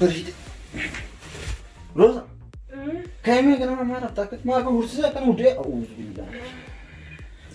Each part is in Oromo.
Bareeda. Rosa. Kaa'imee kana maal akka maal kan horsiisee akka nu dee.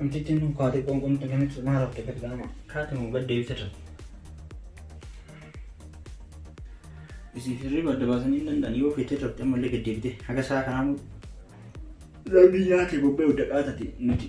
Namtittiin kun kaatee qoonqoomtu namichi maal hafte gad gaama kaate moo gad deebite ture. Isiif hirriba adda baasanii hin danda'an yoo feetee turte ammallee gad deebite haga isaa kanaa moo rabbi nyaate bobbee hudda qaatati nuti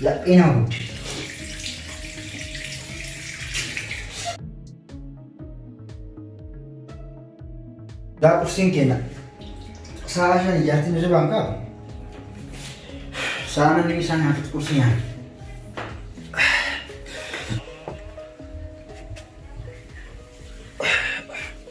Laphee nama gubde. Daa qursiin keenya sa'a shan ijaartiin hirribaan ka'a. Sa'a namni isaan nyaatutti qursii nyaata.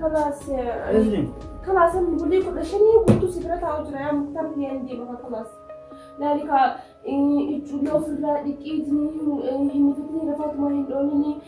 Kalaas. Kalaas amma bulii kudha shanii guutuu si bira taa'u jira yaa muktar ni ani deema kalaas. Laali kaa ijoollee ofirraa dhiqii hin mifatanii lafaatuma hin dhoonini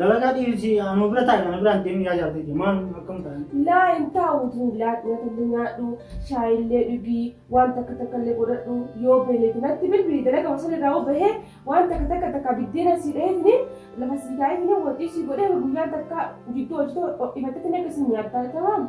Dalagaa dhiirsi anuu bira taa'e kana biraan deemni yaa jaallatee jee maal akkam ta'an. Laa hin taa'u tun laa nyaatalle nyaadhu shaayillee dhugii waan takka takkallee godhadhu yoo beelete natti bilbili dalaga wasan irraa hoo bahee waan takka takka takka biddeena sii dhaheetini lafa sii kaa'eetini wanti sii godhee guyyaan takka jidduu hojjetoo ho'ifateetini akkasii nyaattaa tamam.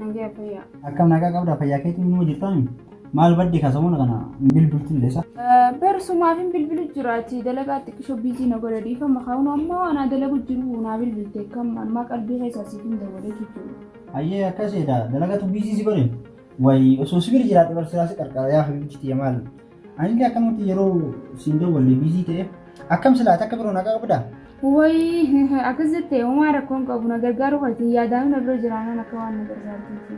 Nagaa fayyaa. Akkam nagaa qabda fayyaa keetiin numa jirtaami? Maal badde ka samana kana hin bilbiltu illee sa? Barsumaaf hin bilbilu jiraati dalagaa xiqqisho biizii na godha dhiifama kaa'uun ammoo anaa dalagu jiru naa bilbilte kam ammaa qalbii keessaa siif hin dabalee jechuudha. Ayyee akkas jedha dalagatu biizii si godhe? Wayi osoo si bira jiraadhe barsiisaa si qarqara yaa habiibti tiyya maal? Anillee akkanumatti yeroo siin dawwalle biizii ta'e akkam silaa takka biroo nagaa qabdaa? Wayii akkas jettee homaa rakkoo hin qabu na gargaaruu keetiin yaadaanii na bira jiraanaan akka waan na gargaarteetti.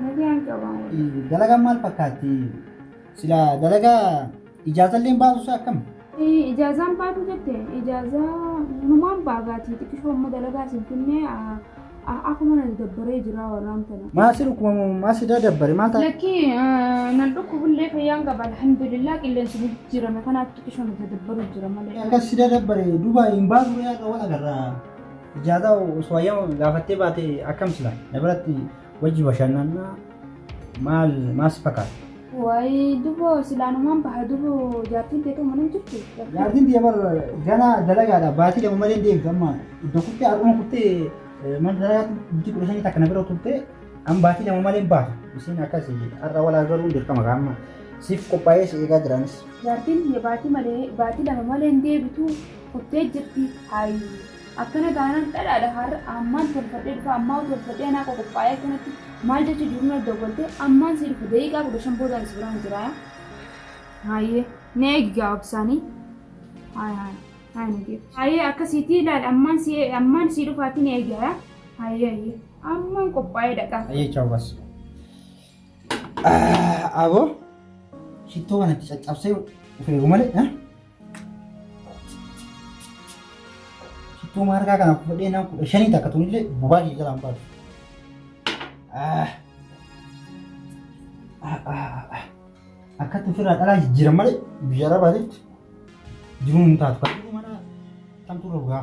Nagaa hin qabaan wayii. Dalagaan maal fakkaatti? Silaa dalagaa ijaazallee hin baasu akkam? Ijaazaan baatu jette ijaazaa numaan baagaatii xiqqishoo amma dalagaa isin finnee akkuma nati dabbaree jiraa warraan tana. Maa si dhukkuba moo maa si daadabbare maal taate? Lakkii nan dhukkubullee fayyaan qaba alhamdulillah qilleensi ni jijjiirame kanaaf xiqqishoo nati dabbaruu jira malee. Akkas si daadabbare duuba hin baatu yaa qabu agarra. Ijaazaa osoo hayyama gaafattee baate akkam sila na biratti Wajji bashannanna maal maas fakkaata? Wayi dubo silaanumaan baha dubo jaartiin teetuu mana hin jirtu. Jaartiin biyya bara ganaa dalagaadha baatii lama malee hin deemtu amma iddoo kuttee har'uma kuttee mana dalagaatti bultii kudha shanii takka na bira turtee amma baatii lama malee hin baatu. Isiin akkas har'a wal argaruun dirqama amma siif qophaa'ee si eegaa jiraanis. Jaartiin biyya baatii malee baatii lama malee hin deebitu kuttee jirti haayi. Akkana taanaan dhadhaadha har'a ammaan tolfadhee dhufa ammaa'uu tolfadhee anaa koo qophaa'ee akkanatti maal jecha jiru natti dawwaltee ammaan sii dhufa daqiiqaa kudha shan booda ani si biraan jira yaa haayee na eegi gaa obsaanii haaya haaya haaya na geetti haayee akkasiitii ilaali ammaan si ammaan sii dhufaatii na eegi yaa haayee haayee ammaan qophaa'ee dhaqaa Ayyee chaaw bas. Aboo shittoo kana itti caccabsee ufeegu malee ha? Shittoo maarkaa kana fudhee naan kudha shanii takka tunillee bobaa kee jalaan baatu. Akkatti ofirraa dhalaa jijjiiran malee biyya arabaa jirtu jiruun hin taatu. Kan jiru mana kamtu rogaa.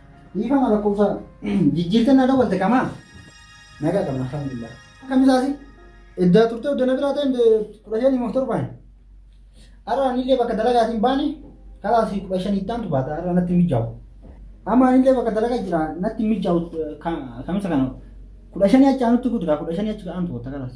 Dhiifama lakkoofsa jijjiirtee na dawwalte qamaa? Nagaa qabna alhamdulillah. Akkam isaasi? Eddaa turtee odda na biraa ta'een kudha shanii moof torbaan. Har'a anillee bakka dalagaatiin baane kalaas kudha shanii itti aantu baata har'a natti mijaa'u. Amma anillee bakka dalagaa jira natti mijaa'u kamisa kana kudha shanii achi aanutti guutu kudha shanii achi aantu baata kalaas.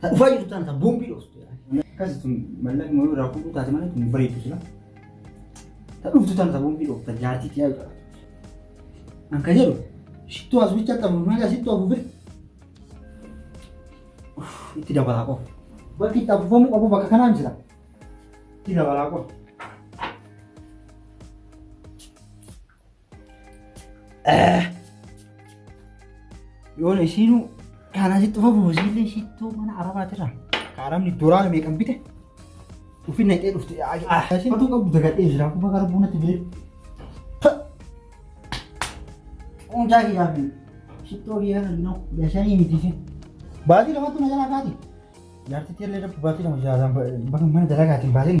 Ta dhufaa jirtu tana ta boombii dhoostu. Akkasi tun mallaqni wayii irraa fuudhuu taate malee tun hin bareeddu sila. Ta dhuftu tana ta boombii dhoofta jaartii tiyaa jedha. An ka jedhu shittuu as bicha qabu maga shittuu afuufir. Itti dabalaa qofa. Bakki itti afuufamuu qabu bakka kanaan jira. Itti dabalaa qofa. Yoona isiinuu kaanaa sitti ufa buusiillee shittoo mana arabaatirraa kaaramni doolaara meeqan bite ufi naqee dhufte asiin oduu qabdu dagadhee jira kuba gara buunatti bire. Hundaa kiyyaa fi shittoo kiyyaa kan noo yashanii miti fi baatii lamatti na jalaa kaati. Jaartitti illee dabbu baatii lama jaalaan bakka mana dalagaatiin baatiin.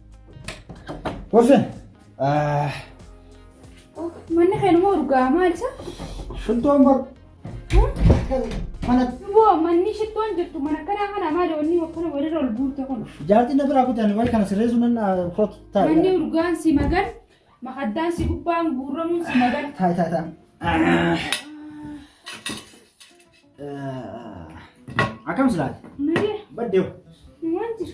Wafen. Manni keenuma urgaa maal isa? Shittoon bar. Mana Boo manni shittoon jirtu mana kanaa kana maali wanni wakkana walirra ol buute kun. jaartii na biraa kutan way kana sirreessu nan koot taa'e. Manni urgaan si magan makaddaan si gubbaan guurramuun si magan. Taa'e taa'e taa'e. Akkam silaati? Malee Baddeewu. waan jiru.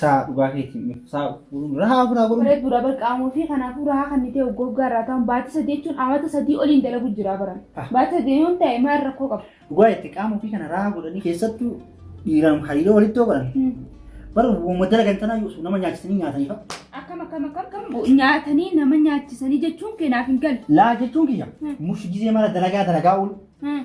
Saa dhugaa keetiin miti. Saa fuudhuun rahaa ofiraa godhuun. Bareedduu dha bar qaamoo fi kanaafuu rahaa kan nitee goggaa irraa ta'an baatii sadii jechuun amata sadii oliin dalagu jira baran. Ah. Baatii sadii yoon ta'e maal rakkoo qaba? Dhugaa itti qaama ofii kana rahaa godhanii keessattuu dhiiraan hariiroo walitti yoo godhan. Hmm. Bara uumama dalagan tanaa yoo nama nyaachisanii nyaatanii fa'a. Akkam akkam akkam akkam nyaatanii nama nyaachisanii jechuun kee naaf hin galle. Laa jechuun kiyya. Hmm. Mushi gizee mara dalagaa dalagaa oolu. Hmm.